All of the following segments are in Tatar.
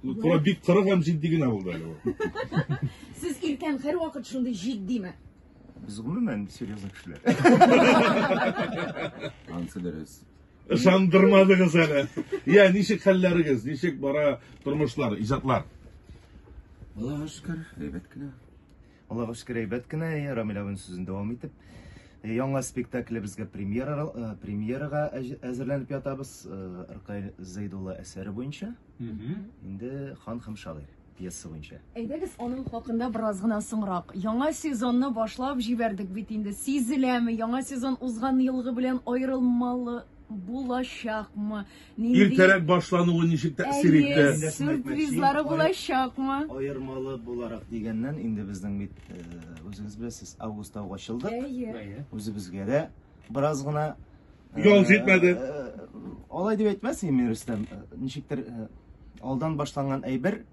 Кура бик кырык һәм җитди генә булды әле ул. Сез иркән һәрвакыт шундый җитдиме? Без гомумән серьезный кешеләр. Ансы дөрес. Ышандырмадыгыз әле. Я, ничек хәлләрегез? Ничек бара тормышлар, иҗатлар? Аллага шөкер, әйбәт кенә. Аллага шөкер, әйбәт кенә, әйе, Рамил абын сүзен дәвам итеп. Э, яңа спектаклебезгә премьера, э, премьерага әзерләнеп ятабыз. Э, Ркай Зәйдулла әсәре буенча. Инде Хан һәм шагыйр пьеса буенча. Әйдәгез, аның хакында бераз гына соңрак. Яңа сезонны башлап җибәрдек бит инде. Сизеләме, яңа сезон узган елгы белән аерылмалы булачакмы? Иртәрәк башлануы ничек тәэсир итте? Әйе, сюрпризлары булачакмы? Аермалы буларак дигәннән, инде безнең бит э, үзегез беләсез, августта ук ачылдык. Әйе. Үзебезгә дә бераз гына э, Ял җитмәде. э, Алай дип әйтмәс идем мин, Рөстәм. Э, Ничектер э, алдан башланган әйбер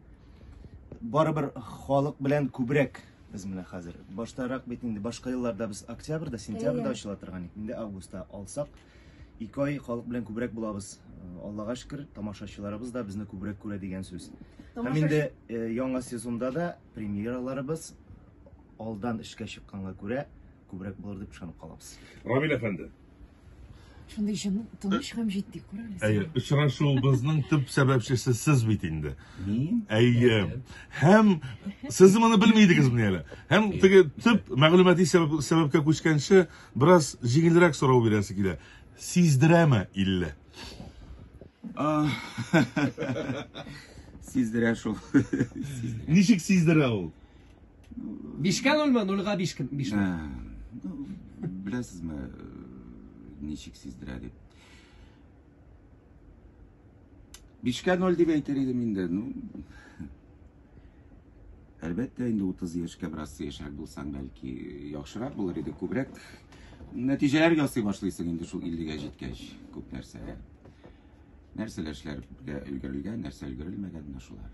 барыбер халык белән күбрәк без менә хәзер. Баштарак бит инде башка елларда без октябрьдә, сентябрьдә Әйе. ачыла торган иде. Инде августта алсак, Ике ай халык белән күбрәк булабыз. Аллага шөкер, тамашачыларыбыз да безне күбрәк күрә дигән сүз. Һәм инде э, яңа сезонда да премьераларыбыз алдан эшкә чыкканга күрә күбрәк булыр дип ышанып калабыз. Рамил әфәнде, Шундый җан тыныч һәм җитди күрәләр. әйе, очрашуыбызның төп сәбәпчесе сез бит инде. Мин Әйе. Һәм сез моны белми идегезмени әле? Һәм теге төп мәгълүмати сәбәп, сәбәпкә күчкәнче, Бераз җиңелрәк сорау бирәсе килә. Сиздерәме 50? Сиздерә шул. Ничек сиздерә ул? Бишкә нольмы? Нульга биш кем? Биш. Ә, ну, Беләсезме, э, ничек сиздерә дип? Бишкә ноль дип әйтер идем инде. Ну, әлбәттә, инде 30 яшькә бераз сыешрак булсаң, бәлки, яхшырак булыр иде, күбрәк нәтиҗәләр ясый башлыйсың инде шул 50-гә җиткәч, күп нәрсәгә. Нәрсәләр эшләр өлгерелгән, нәрсә өлгерелмәгән, менә шулар.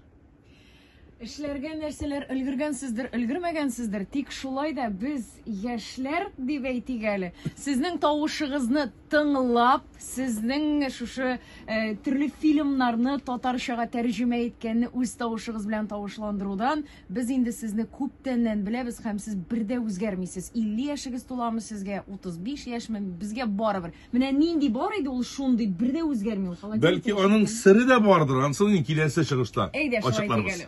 Эшләргә нәрсәләр өлгергәнсездер, өлгермәгәнсездер, тик шулай да без яшьләр дип әйтик әле. Сезнең тавышыгызны тыңлап, сезнең шушы э, төрле фильмнарны татарчага тәрҗемә иткәнне үз тавышыгыз белән тавышландырудан без инде сезне күптәннән беләбез һәм сез бер дә үзгәрмисез. 50 яшегез туламы сезгә, 35 яшьме, безгә барыбер. Менә нинди бар иде ул шундый, бер дә үзгәрми ул холодильник. Бәлки аның сере дә бардыр, ансын киләсе чыгышта Әйдә, шулай итик әле.